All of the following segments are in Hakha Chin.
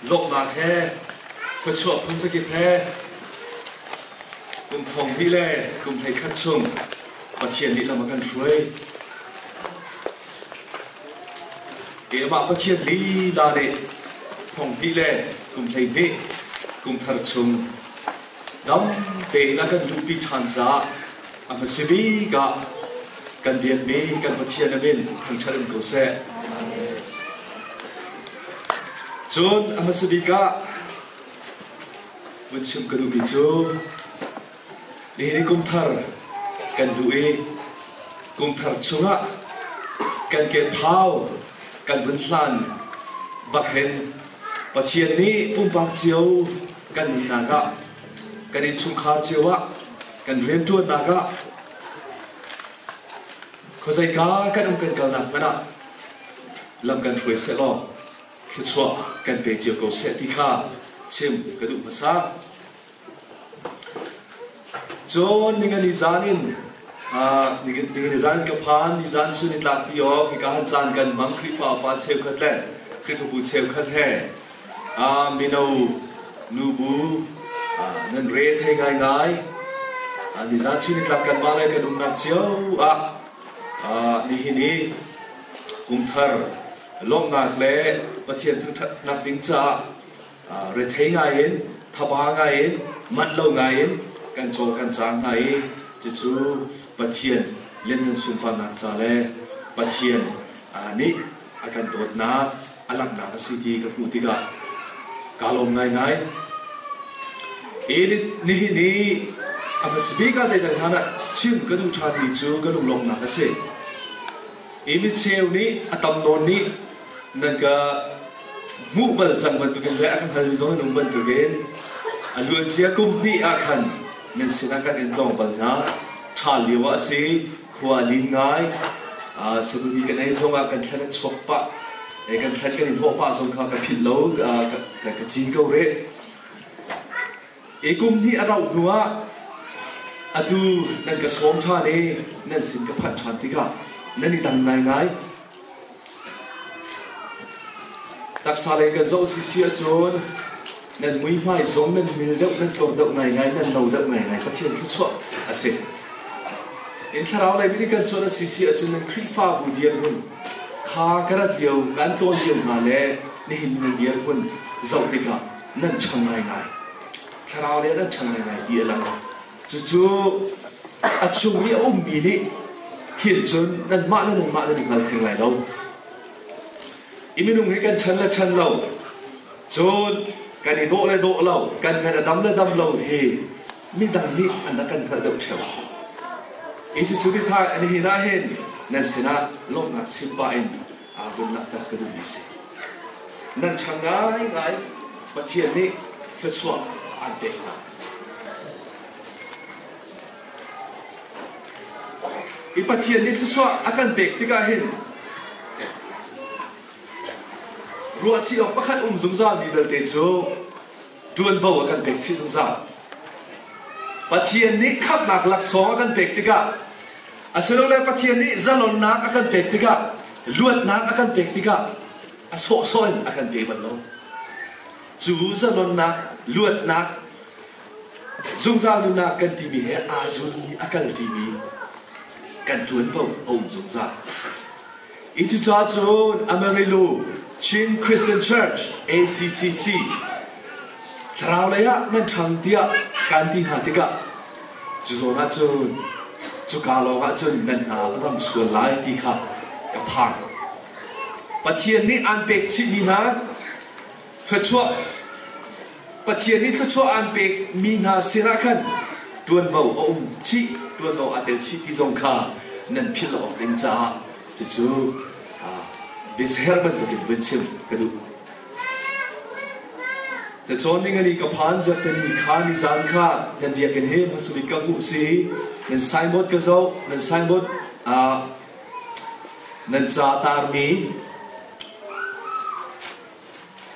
lawmhnak he khuachuah phun zakip he kum thong pi le kum hlei khat chung Pathian nih lam a kan hruai. Keimah Pathian lila nih thong pi le kum hlei hnih kum thar chung dam tein a kan luhpi ṭhan caah a hmasa bik ah kan biakmi kan Pathian a min thangṭhat in ko seh. Cun a hmasa bik ah vun chim ka duhmi cu nihin i kumthar kan duh i kumthar chungah kan ke thau kan vun hlan bak hin Pathian nih pumpak cio kan ihnak ah, kan innchungkhar cio ah, kan rianṭuannak ah, khuazeika kan um kan kalnak hmanh ah, lam kan hruai seh law, thluachuah kan pe cio ko seh ti kha chim ka duh hmasa. Cun ningani zan in ningani zan ka phan ni zan su ni tlak ti ok ka han chan kan mang khrihfa pa cheu khat le khrihfabu cheu khat he Mino, nubu nan rel thai ngaingai. Nizan chin nitlak kanmah le kan umnak cio ah nihin i kumthar lawmhnak le Pathian thangṭhatnak ding caah rethei ngaiin, thaba ngaiin, manh lo ngaiin kan cawl kan cang hna i cucu Pathian lianngan sunparnak ca le Pathian nih a kan dawtnak a langhnak a si ti ka hmuh tikah kaa lawm ngaingai. Edith nihin hi a va si bik ah zeital hna dah chim ka duh ṭhan mi cu ka lunglawmhnak a si. Hi micheu nih a tam nawn nih nan ka hmuh bal cang bantukin le a ka hngal nawn bantukin a luancia kum hnih ah khan nan sinah kan in tlawng bal hna. Ṭha lio ah a si khua a lin ngai security kan ei zong ah kan thlan an chuak pah kan thlan kan in hawh pah zong kha ka philh lo ka cin ko re e kum hnih a rauh hnu ah atu nan ka sawm ṭhan i nan sin ka phanh ṭhan tikah nan i dang ngai ngai Taksa lei kan zoh sisi ahcun nan muihmai zong nan mil deuh nan tlawm deuh ngaingai nan no deuh ngaingai Pathian thluachuah a si. In thlarau lei mi kan cuan a sisi ahcun nan Khrihfabu dirhmun kha ka rat lio kan tawl lio hna le nihin ni dirhmun zoh tikah nan ṭhang ngaingai. Thlarau le nan ṭhang ngaingai ti a lang. Cucu a chung i a ummi nih hin cun nanmah le nanmah nan i hngal theng lai lo. I minung hi kan chan le chan lo, cun kan i dawh le dawh lo, kan ngan a dam le dam lo hi midang nih an rak kan hngalh deuh theo. Hi cucu titha nihin ahhin nan sinah lawmhnak chim pah in aa bawm laktak ka duhmi a si. Nan ṭha ngaingai Pathian nih thluachuah aan pek hna. I Pathian nih thluachuah a kan pek tikah hin ruahchih awk pakhat um zungzalmi belte cu ṭuanvo a kan pek chih zungzal. Pathian nih khamhnak laksawng a kan pek tikah, asilole Pathian nih zalonnak a kan pek tikah, luatnak a kan pek tikah, a sawhsawh in a kan pe bal lo. Cu zalonnak, luatnak, zungzal nunnak kan timi he aa zun i a kal timi kan ṭuan bo a um zungzal. Hi cuca cun Amarillo Chin Christian Church NCCC thlarau lei ah nan ṭhang tiah kan ti hna tikah cu zawn ah cun cuka lawng ah cun nan hna ram sual lai ti kha ka phang. Pathian nih aan pek chihmi hna Thluachuah Pathian i thluachuah aan pekmi hna sinah khan ṭuanvo a um chih, ṭuanvo aa tel chih ti zong kha nan philh awk ding caah cucu biasher bantukin vun chim ka duh. Cacawn ning ali ka phan zat tani kha ni zan kha nan bia kan him nan sumit ka ku si nan signboard ka zo nan signboard nan ca tarmi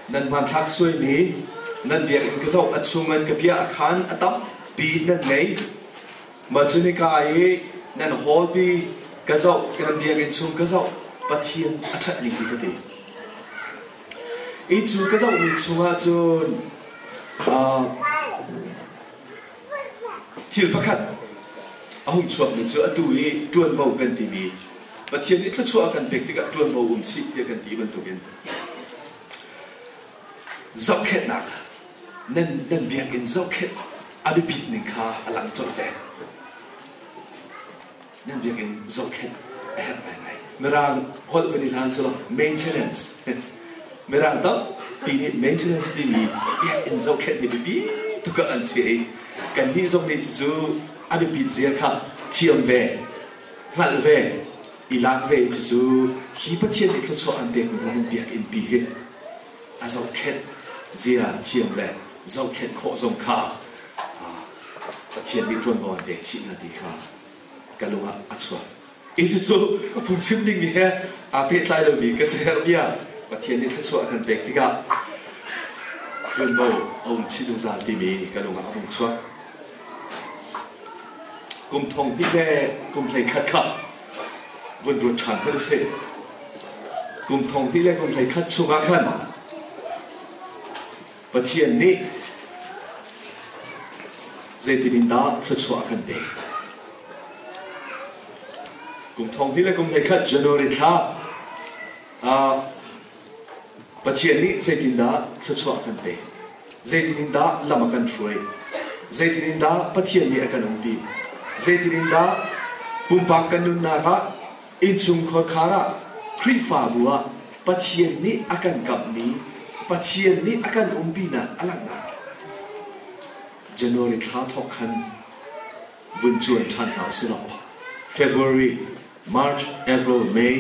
Nan hmanthlak suaimi, nan biakinn ka zoh a chungin ka piah khan a tampi nan ngei. Mah cu nika i nan hawpi ka zoh, ka nan biakinn chung ka zoh, Pathian a ṭhatmi hi ka ti. Hi cu ka zohmi chungah cun uh, Thil pakhat a hung chuakmi cu atu i ṭuanvo kan timi Pathian nih thluachuah a kan pek tikah ṭuanvo um chih tiah kan ti bantukin zohkhenhnak nan, nan biakinn zohkhenh a biapit ning kha a lang colh ve. Ning biakinn zohkhenh a herh ngaingai. Mirang holh kan i hlan cu maintenance. Mirang tampi nih maintenance timi biakinn zohkhenhmi biapi tuk an si i kannih zong nih cucu a biapit zia kha thiam ve, hngalh ve, i lak ve cucu hi Pathian nih thluachuah an pekmi Roman biakinn pi hi a zohkhenh zia thiam le zohkhenh khawh zong kha Pathian nih ṭuanvo an pek chih hna ti kha ka lung ah a chuak. Hi cucu ka phungchim dingmi he aa pehtlai lomi ka si herh bia Pathian nih thluachuah kan pek tikah Hlunmo a um chih zungzal timi ka lung ah a vung chuak. Kum thong hnih le kum hlei khat kha vun ruat ṭhan kha si. Kum thong hnih le kum hlei khat chungah khan Pathian nih zeitin in dah thluachuah a kan pek? Kum thong hnih le kum hleikhat January thla ah Pathian nih zeitin dah thluachuah a kan pek? Zeitin in dah lam a kan hruai? Zeitin in dah Pathian nih a kan umpi? Zeitin in dah pumpak kan nunnak ah Innchungkhar khar ah Khrihfabu ah Pathian nih a kan kamhmi Pathian nih a kan umpinak a langhnak January thla thawk khan vun cuan ṭhan hna u sih law February, March, April, May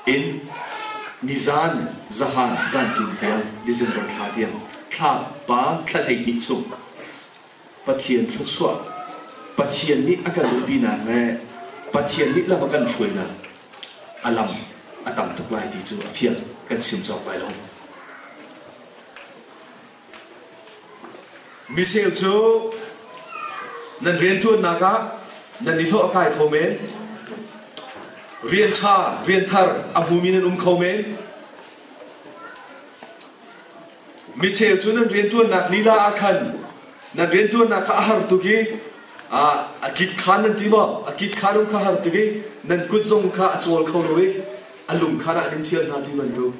in nizan zahan zanṭin tiang December thla tiang thla pa thla hleihnih chung Pathian thluachuah Pathian nih a kan duhpinak le Pathian nih lam a kan hruainak a lam a tam tuk lai ti cu a fiang kan chim cawk lai lo. Miseu cu nan rianṭuannak ah nan i hlawh a kai kho men. Rian ṭha, rian thar a hmumi nan um kho men. Micheu cu nan rianṭuannak lila ah khan nan rianṭuannak kha a har tuk i a kik khan nan ti maw? A kik kha rum kha a har tuk i nan kut zong kha a cawl kho lo i a lung khan ah nan ṭhial hna ti bantuk.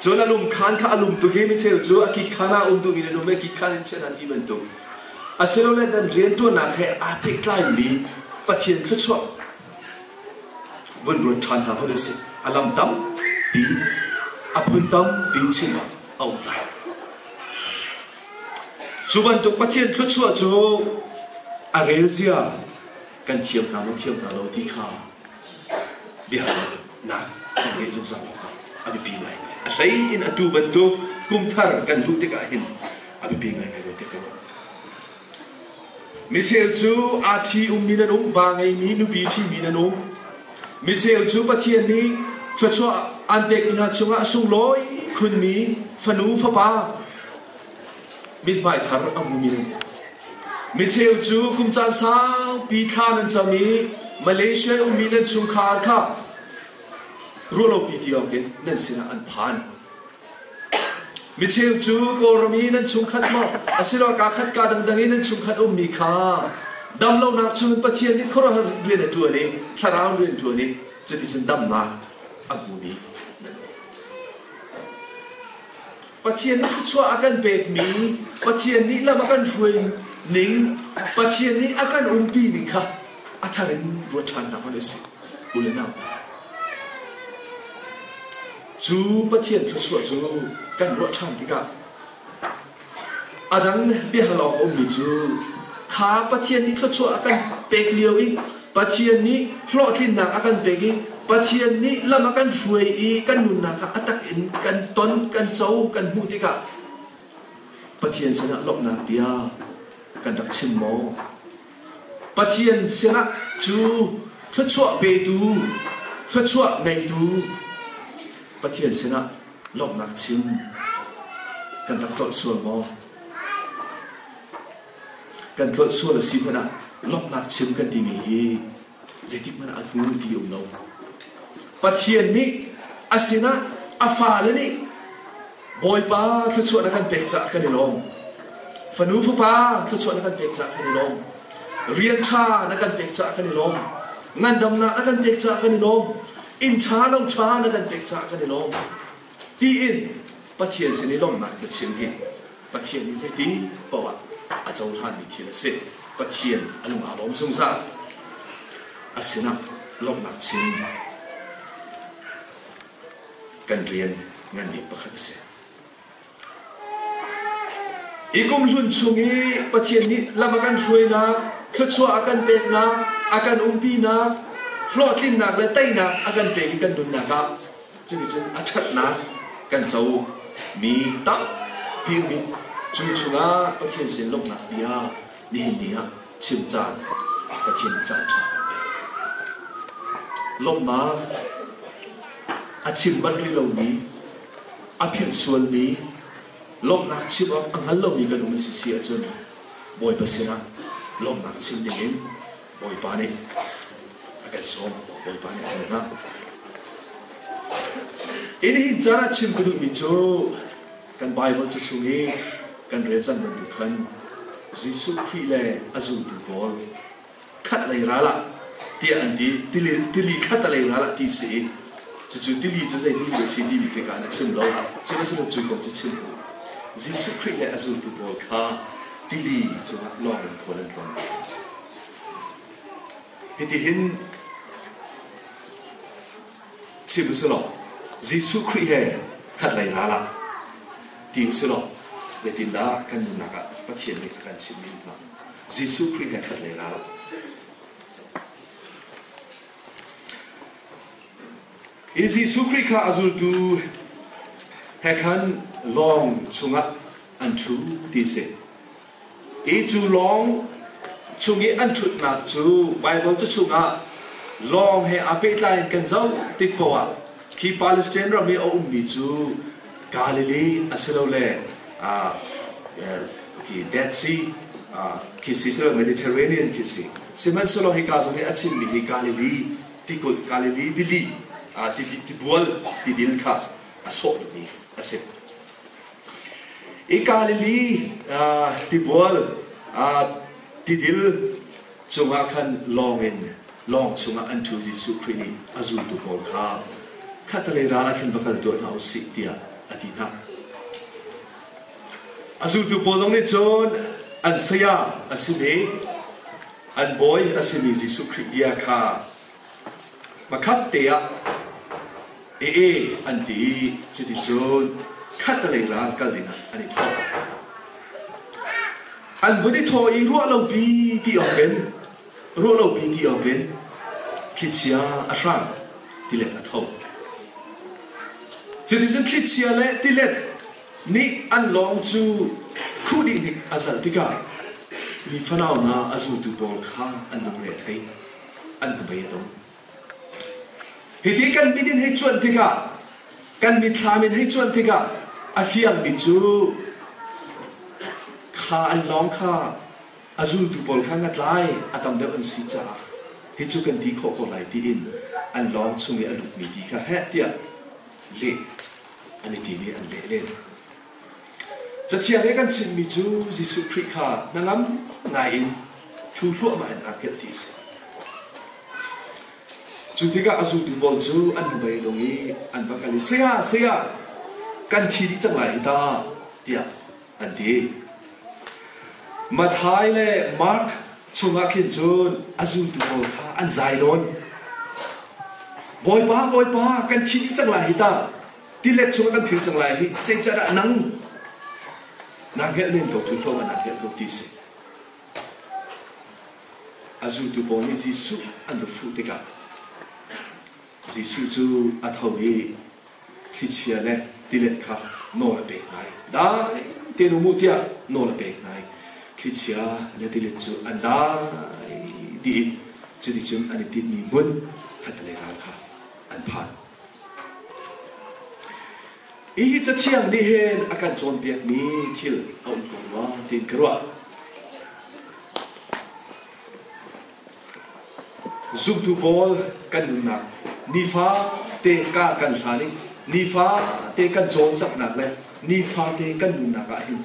Cun a lung khan kha a lum tuk i micheu cu a kik khan ah a um duhmi nan um i a kik khan in chiah hna ti bantuk. Asilole nan rianṭuannak he aa pehtlaimi Pathian thluachuah vun ruat ṭhan hna hlah sih. A lam tampi, a phun tampi chimah a um lai. Cu bantuk Pathian thluachuah cu a relzia kan thiam hna lo thiam hna lo ti kha bia nak kan ngei zungzal awkah a biapi ngaingai. A hlei in a tu bantuk kumthar kan hmuh tikah hin a biapi ngaingai lo ti ka ruah. Micheu cu aa thi ummi nan um, vaa ngeimi nupi ṭhimi nan um. Micheu cu Pathian nih thluachuah aan pekmi hna chungah a sunglawi khunmi fanu fapa mithmai thar a hmumi nan um. Micheu cu kum caan saupi thla nan cam i Malaysia i ummi nan chungkhar kha ruahlopi ti awkin nan sinah an phan. Micheu cu Kawlram i nan chungkhat maw asiloah kaa khat kaa dangdang i nan chungkhat ummi kha dam lonak chungin Pathian nih khuaruahhar rian a ṭuan i thlarau rian a ṭuan i cuticun damnak a hmumi. Pathian nih thluachuah a kan pekmi, Pathian nih lam a kan hruai ning, Pathian nih a kan umpi ning kha a thar in ruat ṭhannak hmanh a si. U le nau, Cu Pathian thluachuah cu kan ruah ṭhan tikah a dang biahalawng a ummi cu kha Pathian nih thluachuah a kan pek lio i Pathian nih hlawhtlinnak a kan pek i Pathian nih lam a kan hruai i kan nunnak kha a tak in kan ton, kan co, kan hmuh tikah Pathian sinah lawmhnak bia kan rak chim maw? Pathian sinah cu thluachuah petu, thluachuah ngeitu Pathian sinah lawmhnak chim kan rak tlolh sual maw? Kan tlolh sual a si hmanh ah lawmhnak chim kan timi hi zeitikhmanh ah hmunpi a um lo. Pathian nih a sinah a fale nih Bawipa thluachuah na kan pek caah kan i lawm. Fanu fapa thluachuah na kan pek caah kan i lawm. Rian ṭha na kan pek caah kan i lawm. Ngandamnak na kan pek caah kan i lawm. Inn ṭha lo ṭha na kan pek caah kan i lawm. tiin Pathian sin i lawmhnak biachim hi Pathian nih zeiti paohah a cohlanmi thil a si. Pathian a lung aa lawm zungzal. A sinah lawmhnak chim kan rian nganbik pakhat a si. Hi kum hlun chung i Pathian nih lam a kan hruainak, thluachuah a kan peknak, a kan umpinak, hlawhtlinnak le teinak a kan pek i kan nunnak ah Cuticun a ṭhatnak kan co mi tampi um i cu chungah Pathian sin lawmhnak bia nihin ni ah chim caan Pathian caan ṭha kan pek. Lawmhnak a chim bal rih lomi, a philhsualmi, lawmhnak chim awk a hngal lomi kan um a si si ahcun Bawipa sinah lawmhnak chim dingin Bawipa nih a kan sawm, Bawipa nih a kan hngak. Hi nihin caan ah chim ka duhmi cu kan Bible cu chung i kan rel cang bantuk khan Jesuh Khrih le a zultu pawl khat lei ral ah tiah an ti tili, tili khat a lei ral ah ti si i cucu tili cu zeitimi a si timi khi kan a chim lo sihmanhsehlaw cu kong cu chim u Jesuh Khrih le a zultu pawl kha tili cungah lawngin khual an tlawn mi a si. Hitihin chim usilaw, Jesuh Khrih he khat lei ral ah ti usilaw, zeitindah kan nunnak ah Pathian nih a kan chimh mi hna Jesuh Khrih he khat lei ral Hi Jesuh Khrih kha a zultu he khan lawng chungah an ṭhu ti a si. Hi cu lawng chung i an ṭhutnak cu Baibal cachung ah lawng he aa pehtlai in kan zoh tik paoh ah khi Palestine ram i a ummi cu Galilee asilole Dead Sea khi si silo Mediterranean khi si sihmanhsehlaw hika zong i a chimmi hi Galilee tikulh Galilee tili tibual tidil kha a sawhmi a si. I Galilee tibual tidil cungah khan lawng in lawng chungah an ṭhu Jesuh Khrih nih a zultu pawl kha khatalei ral ah khin va kal tuah hna u sih tiah a ti hna. A zultu pawl zong nih cun an saya a simi, an bawi a simi Jesuh Khrih bia kha Pakhatte ah ee an ti i cuticun khatlei ral kal dingah an i thawh. An vun i thawh i ruah lopi ti awkin ruah lopi ti awkin thlichia a hrang tilet a tho. Cuticun thlichia le tilet nih an lawng cu khuh dih nih a zalh tikah mi fanau hna a zultu pawl kha an lungre a thei. an ka bei tung hiti kan mit in hei chuan tikah kan mit thlam in hei chuan tikah a hliang mi cu kha an lawng kha a zultu pawl kha nga tlai a tam deuh an si caah hi cu kan ti khawh ko lai tiin an lawng chung i a lut mi ti kha heh tiah leh an i ti i an leh len Cathiang i kan chimmi cu Jesuh Khrih kha hnangam ngaiin thu hluahmah in aa hngilh ti a si. Cu tikah a zultu pawl cu an nubai dong i an va kal i saya, saya, kan thi dih cang lai hi ta, tiah an ti. Mathai le Mark chungah khin cun a zultu pawl kha an zai nawn. Bawipa, Bawipa, kan thi dih cang lai hi ta, Tilet chung kan phil cang lai hi zeicadah nang na ngelh men ko tu hlawm na ngelh ko ti si a zultu pawl nih Jesuh an va fuh tikah Jesuh cu a tho i thlichia le tilet kha nawl a pek ngai dai te nu mu tiah nawl a pek ngai thlichia le tilet cu an dai dih in cuticun an i tinhmi hmun khat le ral kha an phan Hihi Cathiang nih hin a kan cawnpiakmi thil a um tung maw tiin ka ruah. Zumtu pawl kan nunnak nifa te ka kan hlan i nifa te kan cawlcanghnak le nifate kan nunnak ah hin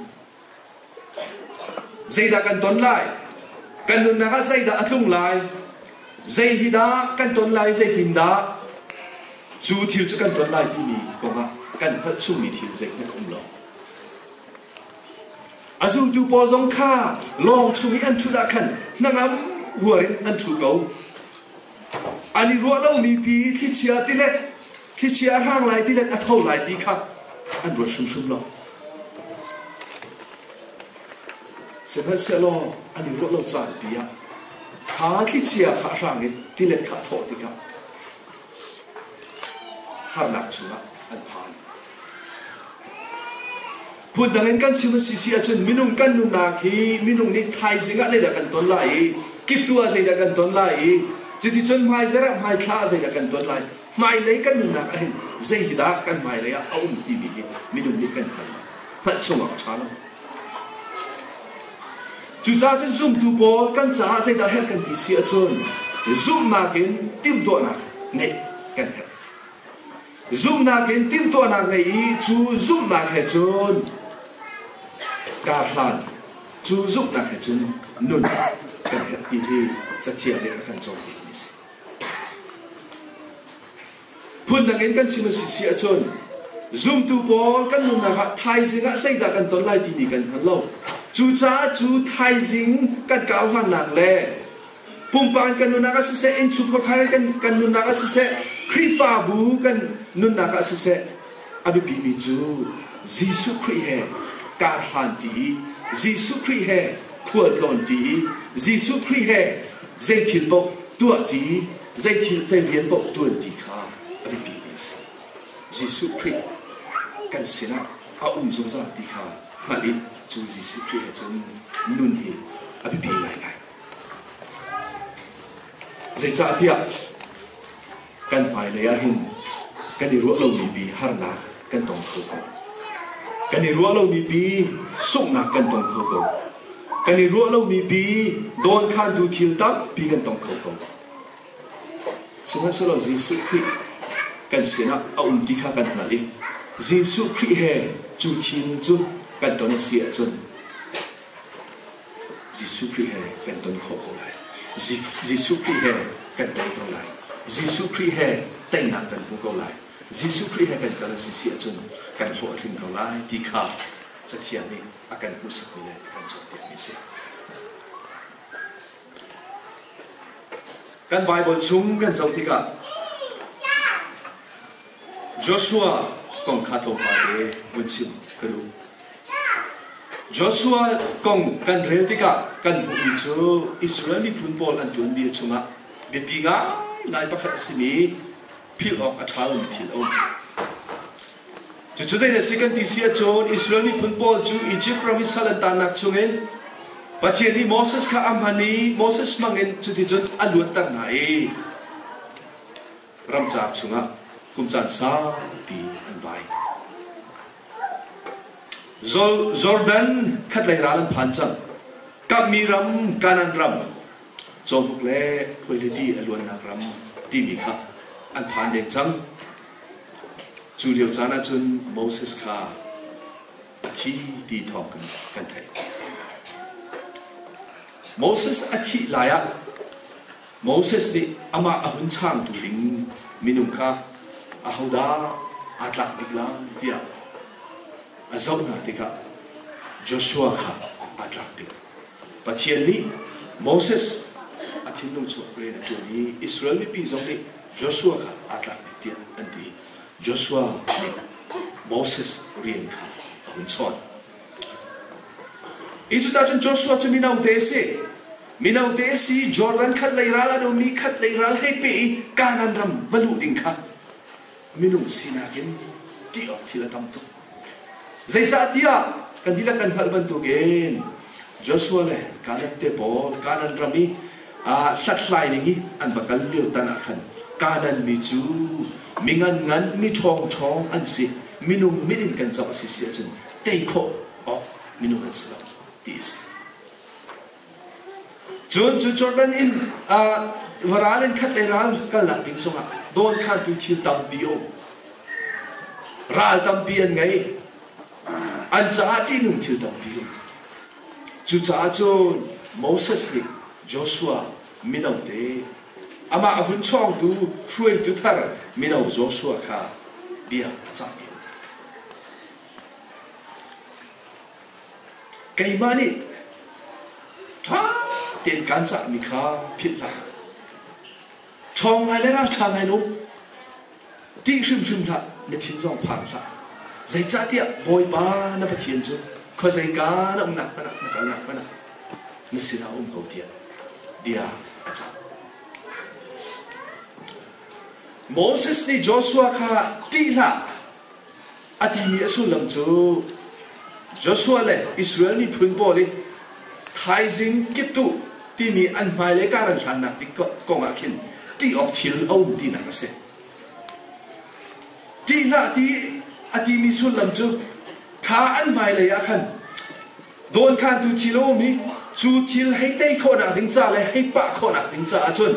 Zeidah kan ton lai? Kan nunnak ah zeidah a tlung lai? Zei hi dah kan ton lai, zei tin dah? Cu thil cu kan ton lai timi kongah kan hngalh chungmi thil zeihmanh um lo. A zultu pawl zong kha lawng chung i an ṭhut ah khan hnangam huar in an ṭhu ko. An i ruah lomi pi i thlichia tilet, thlichia a hrang lai tilet, a tho lai ti kha an ruat hrimhrim lo. Sihmanhsehlaw an i ruah lo caan pi ah kha thlichia kha a hrang i tilet kha a thawh tikah harnak chungah an phan. Phundang in kan chim a si si ahcun minung kan nunnak hi minung nih thaizing ah zeidah kan ton lai i kip tu ah zeidah kan ton lai i cuticun hmaizarh ah hmaithla ah zeidah kan ton lai hmailei kan nunnak ahhin zeidah kan hmailei ah a um timi hi minung nih kan hngalh hngalh chungah a ṭha lo cucaah cun zumtu pawl kan caah zeidah herh kan ti si ahcun zumhnak in timhtuahnak ngeih kan herh Zumhnak in timhtuahnak ngei i cu zumhnak he cun kar hlan, cu zumhnak he cun nun kan herh ti hi cathiang nih a kan cawn bikmi a si. Phundang in kan chim a si si ahcun zumtu pawl kan nunnak ah thaizing ah zeidah kan ton lai timi kan hngal lo. Cucaah cu thaizing kan kauhlannak le Pumpak kan nunnak ah siseh, innchung khuakhar kan, kan nunnak ah siseh, Khrihfabu kan nunnak ah siseh, a biapimi cu Jesuh Khrih he kar hlan ṭi i Jesuh Khrih he khualtlawn ṭi i Jesuh Khrih he zeithil paoh tuah ṭi zeithil zeirian paoh ṭuan ṭi kha a biapimi a si. Jesuh Khrih kan sinah a um zungzal ti kha hngalh i cu Jesuh Khrih he cun nun hi a biapi ngaingai. Zeicahtiah kan hmailei ah hin kan i ruah lomi pi harnak kan tong kho ko. Kan i ruah lomi pi sunghnak kan tong kho ko. Kan i ruah lomi pi dawnkhantu thil tampi kan tong kho ko. Sihmanhsehlaw Jesuh Khrih kan sinah a um ti kha kan hngalh i Jesuh Khrih he cu thil cu kan ton a si ahcun Jesuh Khrih he kan ton khawh ko lai. Jesuh Khrih he kan tei ko lai. Jesuh Khrih he teinak kan hmu ko lai. Jesuh Khrih he kan kal a si si ahcun kan hlawh a tling ko lai ti kha Cathiang nih a kan hmuhsakmi le a kan cawnpiakmi a si. Kan Baibal chung kan zoh tikah Joshua kong kha tlawmpal i vun chim ka duh. Joshua kong kan rel tikah kan hmuhmi cu Israel miphun pawl an tuan bia chungah biapi ngaingai pakhat a simi philh awk a ṭha lomi thil a um. Cucu zeidah si kan ti si ahcun Israel miphun pawl cu Izipt ram i sal an taannak chungin Pathian nih Moses kha a hman i Moses hmangin cuticun a luatter hna i ramcar chungah kum caan saupi an vai. Jordan khatlei ral an phan cang. Kamhmi ram, Kanan ram, Cawbuk le Khualidi a luannak ram timi kha an phan deng cang. Cu lio caan ahcun Moses kha a thi ti thawng kan theih. Moses a thih lai ah Moses nih amah a hun changtu ding minung kha ahodah aa tlak bik lai tiah a zoh hna tikah Joshua kha aa tlak bik. Pathian nih Moses a thinlung chuak rian a ṭuan i Israel mipi zong nih Joshua kha aa tlak bik tiah an ti. Joshua nih Moses rian kha a hun chawn. Hi cucahcun Joshua cu minote a si. Minote a si, Jordan khat lei ral an um i khat lei ral hei pe i Kanaan ram va luh ding kha minung sinak in ṭih awk thil a tam tuk. Zeicahtiah kan dihlak kan hngalh bantukin Joshua le Kanaan te pawl Kanaan ram i aa hlathlai ning i an va kal lio tan ah khan Kanaan mi cu mi ngan ngan, mi ṭhawngṭhawng an si. Minung mit in kan zoh a si si ahcun tei khawh awk minung an si lo ti a si. Cun cu Jordan in va ral in khat ei ral kalnak ding sungah dawn khantu thil tampi um. Ral tampi an ngei. An caah ṭihnung thil tampi um. Cucaah cun Moses nih Joshua mino te amah a hun chawngtu hruaitu thar mino Joshua kha bia a cahmi Keimah nih ṭha tein kaan cahmi kha philh hlah. Ṭhawng ngai le ralṭha ngai lo ṭih hrimhrim hlah, na thin zong phang hlah. Zeicahtiah Bawipa na Pathian cu khuazeika na umnak hmanh ah na kalnak hmanh ah na sinah a um ko tiah bia a cang. Moses nih Joshua kha ṭih hlah, A timi a sullam cu Joshua le Israel miphun pawl i thaizing kiptuh timi an hmailei Karan hlannak bik kong ah khin ṭih awk thil a um tinak a si. Ṭih hlah ti a timi sullam cu kha an hmailei ah khan dawnkhantu thil a um i cu thil hei tei khawhnak ding ca le hei pah khawhnak ding caah cun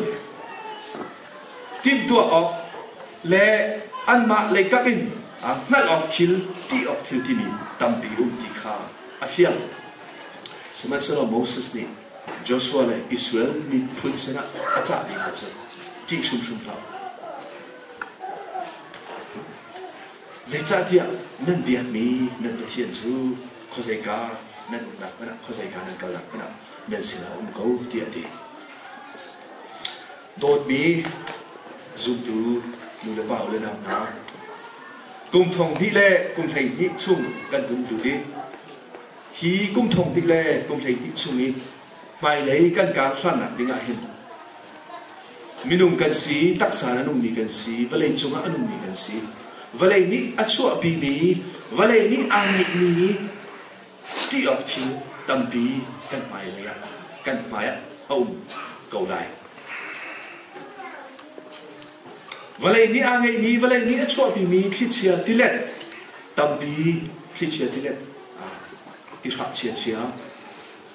timhtuah awk le anmah leikap in hngalh awk thil tih awk thil timi tampi um ti kha a fiang sihmanhsehlaw Moses nih Joshua le Israel miphun sinah a cahmi hna cu ṭih hrimhrim hlah zeicahtiah nan biakmi nan pathian cu khuazeika nan umnak hmanh ah khuazeika nan kalnak hmanh ah nan sinah a um ko tiah a ti dawtmi zumtu nu le pa le nau hna kum thong hnih le kum hleihnih chung kan um hnu i hi kum thong hnih le kum hleihnih chung i hmailei kan kar hlannak ding ah hin minung kan si, taksa in an ummi kan si, vawlei cungah an ummi kan si. Vawlei nih a chuahpimi, vawlei nih aa ngeihmi ti awk thil tampi kan hmailei ah kan hmaiah a um ko lai. Vawlei nih aa ngeihmi, vawlei nih a chuahpimi thlichia tilet tampi thlichia tilet ah ti hrap chia chia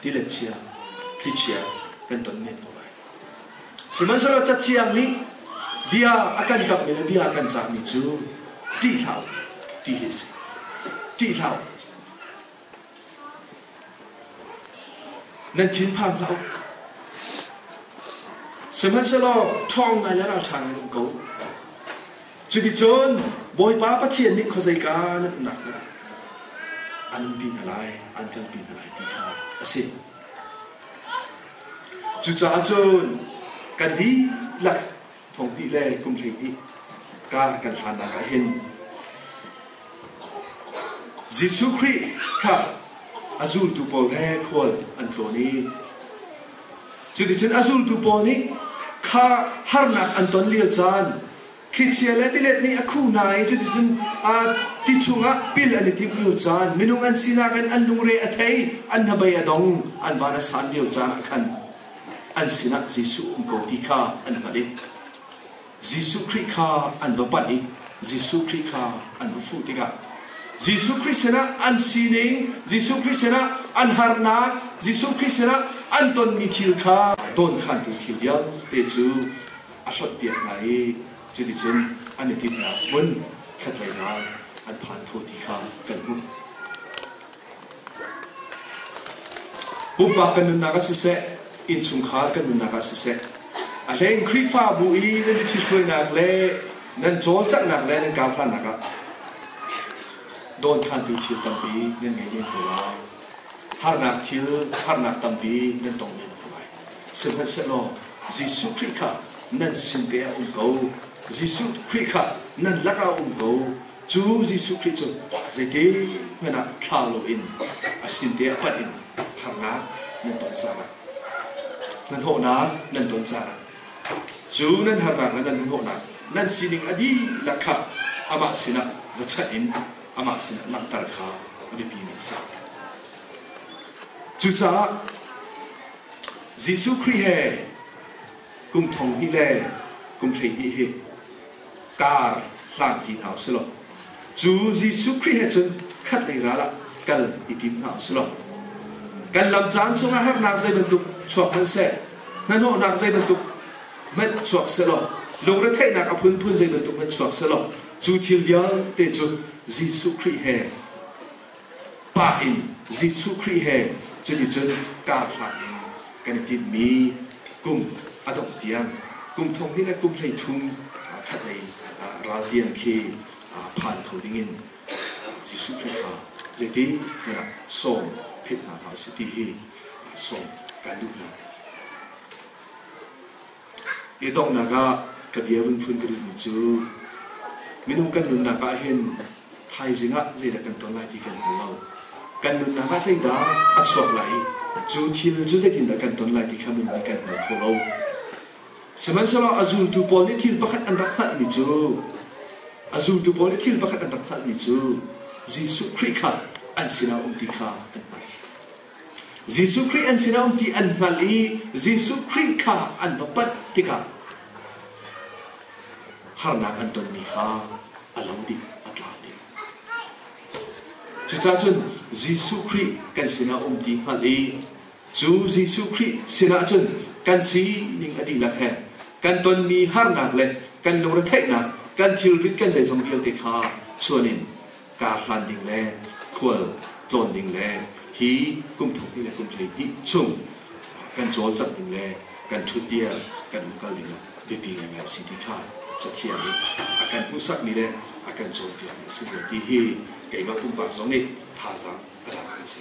tilechia, thlichia kan ton men ko lai. Sihmanhsehlaw cathiang nih bia a kan kamhmi le bia a kan cahmi cu ṭih hlah ti hi a si. Ṭih hlah nan thinphang hlah sihmanhsehlaw ṭhawng ngai le ralṭha ngai um ko Cuticun Bawipa Pathian nih khuazeika na umnak hnga an umpi hna lai, an kalpi hna lai ti kha a si. Cucaah cun kan dihlak thong hnih le kum hleihnih ka kan hlannak ah hin Jesuh Khrih kha a zultu pawl he khual an tlawn i cuticun a zultu pawl nih kha harnak an ton lio caan Thlichia le tilet nih a khuh hna i cuticun ti chungah pil an i timh lio caan, minung an sinak in an lungre a thei, an hnabei a dong, an van a san lio caan ah khan an sinah Jesuh um ko ti kha an hngalh i Jesuh Khrih kha an va panh i Jesuh Khrih kha an va fuh tikah Jesuh Khrih sinah an sining, Jesuh Khrih sinah an harnak, Jesuh Khrih sinah an tonmi thil kha dawnkhantu thil vialte cu a hlonhpiak hna i cuticun an i tinhnak hmun khatleinak an phan kho ti kha kan hmuh. Pumpak kan nunnak ah siseh, innchungkhar kan nunnak ah siseh, a hleng Khrihfabu i nan i thithruainak le nan cawlcanghnak le nan karhlannak ah dawnkhantu thil tampi nan ngei men ko lai. Harnak thil, harnak tampi nan tong men ko lai. Sihmanhsehlaw Jesuh Khrih kha nan sin te ah um ko. Jesuh Khrih kha nan lakah um ko. Cu Jesuh Khrih cu zeitikhmanh ah thlau loin a sin te ah panh in harnak nan tong caah, hmanhawhnak nan ton caah, cu nan harnak le nan hmanhawhnak nan sining a dihlak kha amah sinah va chanh in amah sinah langhter kha a biapimi a si. Cucaah Jesuh Khrih he kum thong hnih le kum hleihnih hi kar hlanṭi hna u si law, cu Jesuh Khrih he cun khatlei ral ah kal i tim hna u si law, kan lam caan chungah harnak zei bantuk chuak hmanh seh, hnanawhnak zei bantuk hmanh chuak seh law, lungretheihnak a phunphun zei bantuk hmanh chuak seh law, cu thil vialte cu Jesuh Khrih he Pa in Jesuh Khrih he cuticun karhlan in kan i tinhmi kum a dongh tiang, kum thong hnih le kum hleithum ṭhatlei ralrian khi phan kho dingin Jesuh Khrih kha zeiti na rak sawm philh hna hlah u sih ti hi sawm kan duhnak. I donghnak ah ka bia vun phun ka duhmi cu minung kan nunnak ah hin thaizing ah zeidah kan ton lai ti kan hngal lo. Kan nunnak ah zeidah a chuak lai, cu thil cu zeitindah kan ton lai ti kha nunmi kan hngal kho lo. Sihmanhsehlaw a zultu pawl nih thil pakhat an rak hngalhmi cu a zultu pawl nih thil pakhat an rak hngalhmi cu Jesuh Khrih kha an sinah a um ti kha kan hngalh. Jesuh Khrih an si lo ti an hngalh i Jesuh Khrih kha an va panh tikah harnak an tonmi kha a lo dih, a tla dih. Cucaah cun Jesuh Khrih kan sinah um ti hngalh i cu Jesuh Khrih sinah cun kan sining a dihlak he kan tonmi harnak le kan lungretheihnak, kan thilrit, kan zeizong vialte kha chuan in kaa hlan ding le khual tlawn ding le hi kum thongtih le kum hleihnih chung kan cawlcangh ding le kan ṭhutdir kan in kal ding biapi ngaingai a si ti kha cathiang nih a kan hmuhsakmi le a kan cawnpiakmi a si ve ti hi keimah pumpak zong nih thazaang a dang kan si.